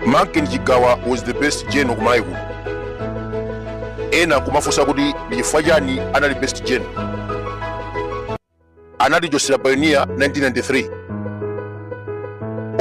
Manken Chigawa was the best general kumalawi kuno ena kumafunsa kuti ndi chifukwa chani anali best general anatichotsera pioneer 1993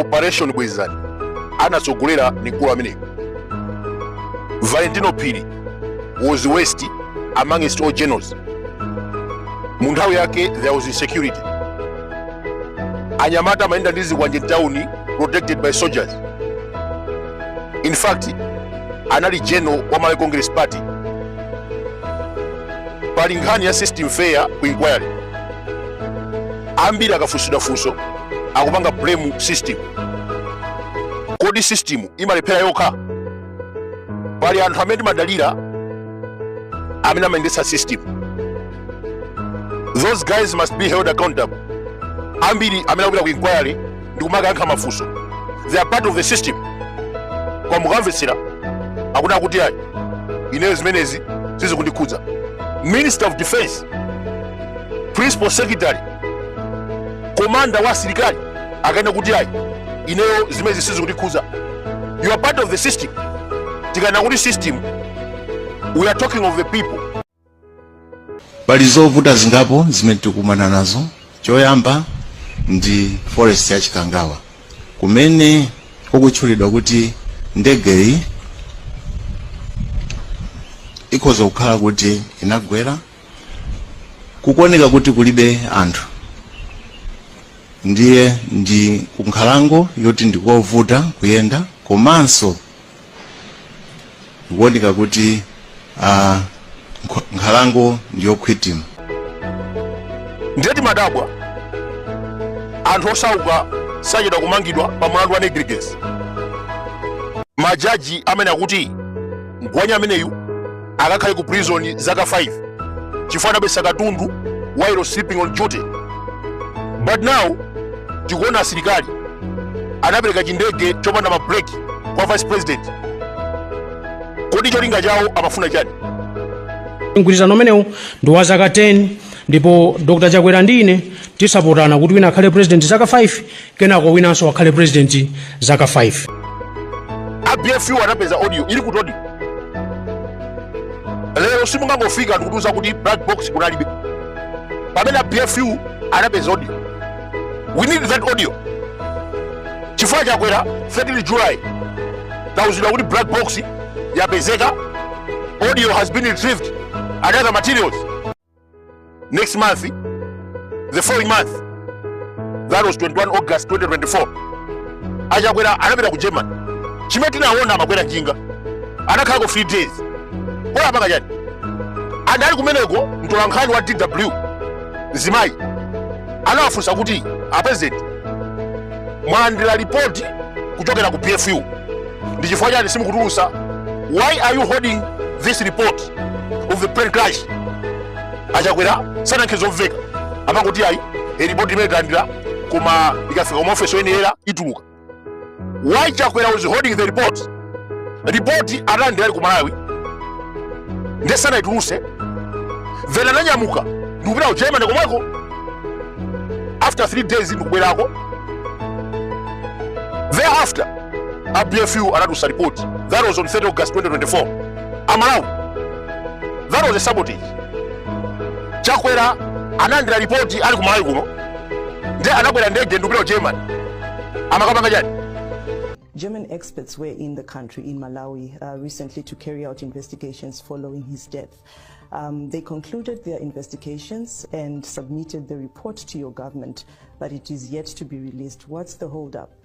operation bwezani anatsogolera ndi mkulu ameneyo valentino phiri was worst amongst all generals mu nthawi yake there was insecurity anyamata amayenda ndi zikwanje mtawuni protected by soldiers in fact anali general wa malawi congress party pali nkhani ya system failure ku inquiry ambiri akafunsidwa funso akupanga blame system kodi system imalephera yokha pali anthu amene timadalira amene amayendetsa system those guys must be held accountable ambiri amene akupita ku inquiry ndi kumakayankha mafunso they are part of the system koma mukamvetsera akunena kuti ayi ineyo zimenezi sizikundikhudza minister of defense principal secretary komanda wa asilikali akanena kuti ayi ineyo zimenezi sizikundikhudza you are part of the system tikanena kuti system we are talking of the people pali zovuta zingapo zimene tikukumana nazo choyamba ndi forest ya chikangawa kumene kukutchulidwa kuti ndegeyi ikhoza kukhala kuti inagwera kukuoneka kuti kulibe anthu ndiye ndi kunkhalango yoti ndikovuta kuyenda komanso kukuoneka kuti ah, nkho- nkhalango ndiyokhwitima ndiye timadabwa anthu osauka sachedwa kumangidwa pa mlandu wa negligence majaji amanena kuti mgwanya ameneyu akakhale ku prison zaka 5 chifukwa anabesa katundu while sleeping on duty but now tikuona asilikali anapereka chindege chopanda mabreki kwa vice president kodi cholinga chawo amafuna chani mgwirizano umenewu ndi wa zaka 10 ndipo dr chakwera ndi ine tisapotana kuti wina akhale president zaka 5 kenako winanso akhale president zaka 5 a bfu anapeza audio ili kuti audio lero simungangofika ndikutiuza kuti black box kunalibe pamene a bfu anapeza audio we need that audio chifukwa chakwera 13 july tauzidwa kuti black box yapezeka audio has been retrieved and other materials next month the following month that was 21 august 2024 achakwera anapita ku germany chimene tinaona amakwera njinga anakhalako 3 days kaya apanga chani and ali kumeneko mtolankhani wa dw mzimayi anawafunsa kuti apulezidenti mwalandira lipoti kuchokera ku bfu ndi chifukwa chani simukutulusa why are you holding this report of the plane crash achakwera sanayankhe zomveka amangoti ayi e report imene tinalandira koma ikafika koma ofesi oyenera ituluka why chakwera was holding the report report analandira ali ku malawi ndiye sanaituluse then ananyamuka ndikupita ku germany komweko after three days ndikubwerako thereafter a bfu anatusa report that was on 3 august 2024 amalawi that was a sabotage chakwera analandira ripoti ali ku malawi kuno nde anakwera ndege ndikupita ku germany amakapanga chani German experts were in the country, in Malawi, uh, recently to carry out investigations following his death. Um, they concluded their investigations and submitted the report to your government, but it is yet to be released. What's the holdup?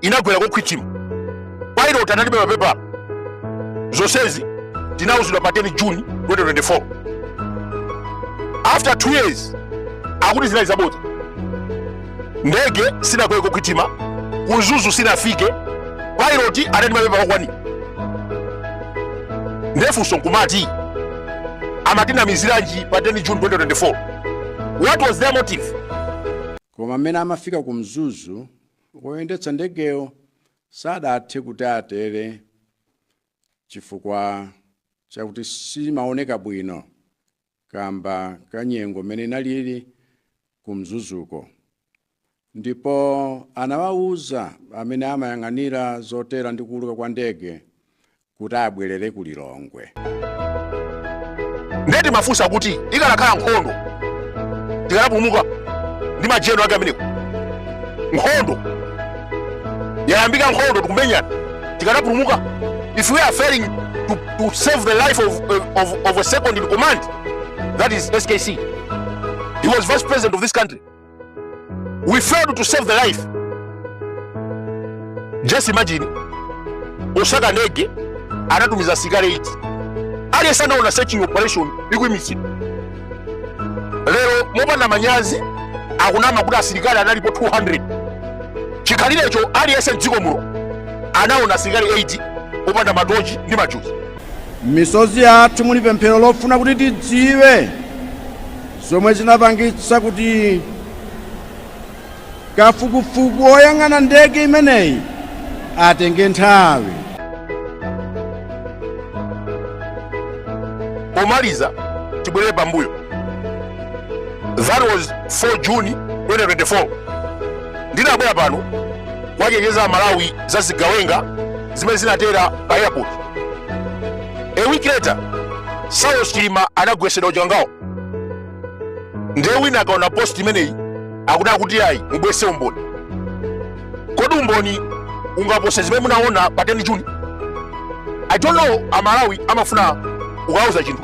inagwera kokhwithima pilot analibe mapepala zonsezi tinauzidwa pa 10 june 2024 after 2 years akuti zinali zabodza ndege sinagwere kokhwithima ku mzuzu sinafike pilot anali ndi mapepala okwanira ndefunso nkumati amatinamiziranji pa 10 june 2024 what was their motive koma mmene amafika ku mzuzu Woyendetsa ndegeyo sadathe kuti atere chifukwa chakuti simumaoneka bwino kamba ka nyengo m'mene inalili ku Mzuzuko ndipo anawauza amene amayang'anira zotera ndi kuuluka kwa ndege kuti abwerere ku Lilongwe. Ndiye timafunsa kuti ikanakhala nkhondo tikanapulumuka ndi majenulo ake amenewo? Nkhondo yayambika, nkhondo tikumenyana, tikanapulumuka? If we are failing to, to save the life of, of, of a second in command that is SKC he was vice president of this country. we failed to save the life just imagine osaka ndege anatumiza asilikali 8 aliyense anaona search operation ikuimitsidwa lero mopanda manyazi akunama kuti asilikali analipo 200 chikhalirecho aliyense mdziko muno anaona asilikali 8 opanda matochi ndi majuzi M'misozi yathu muli pemphero lofuna kuti tidziwe zomwe zinapangitsa kuti kafukufuku woyang'ana ndege imeneyi atenge nthawi. Pomaliza tibwerere pambuyo. That was 4 June 2024. Ndinabwera pano kuwachenjeza aMalawi za zigawenga zimene zinatera pa airport a week later saulos chilima anagwetsedwa uchikangawo ndiye wina akaona post imeneyi akuti akuti ayi mubwese umboni kodi umboni ungapose zimene munaona pa 10 june i don't know amalawi amafuna ukauza chinthu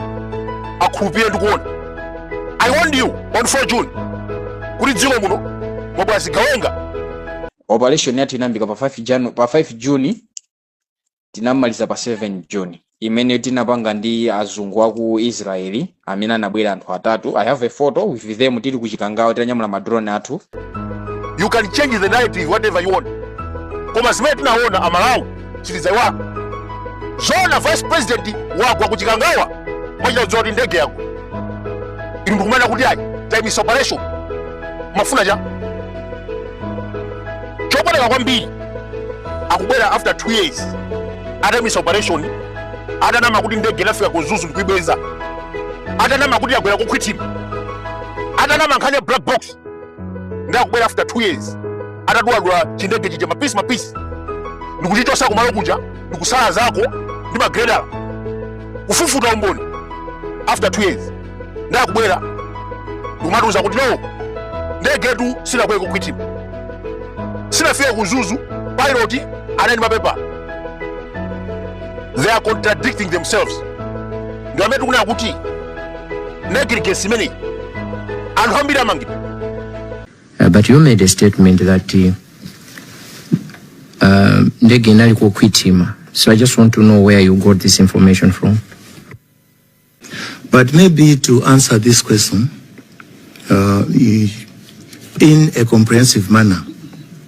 akhulupire ndi kuona i warned you on 4 june kuti dziko muno mwabwera zigawenga operation yathu inayambika pa 5 juni tinamaliza pa 7 juni imene tinapanga ndi azungu aku israeli amene anabwera anthu atatu i have a photo with them tili ku chikangawa titanyamula madrone athu you can change the narrative whatever you want koma zimene tinaona amalawi citizen yaona vice president wagwa ku chikangawa wachita kudziwa kuti ndege yagwa inu mukumana kuti ayi taimisa operation mufuna chani chopweteka kwambiri akubwera after 2 years ataimisa operation atanama kuti ndege inafika ku mzuzu ndikuibweza atanama kuti yagwera kukhwithima atanama nkhani ya black box ndakubwera after 2 years ataduladula chindege chija mapisi mapisi ndikuchichosa kumalo kuja ndikusalazako ndi magreda kufufuta umboni after 2 years ndakubwera ndikumatiuza kuti no ndegetu sinagwe kukhwithima sinafike ku mzuzu pilot analibe mapepala they are contradicting themselves ndi amene tikunena kuti naked case imeneyi anthu ambiri amangidwa Uh, but you made a statement that uh, uh, ndege inali kukhwitima so i just want to know where you got this information from But maybe to answer this question uh, i- in a comprehensive manner,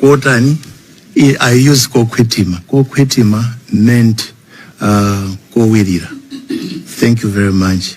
kotani i, I use kokhwitima kokhwitima meant uh, kowirira thank you very much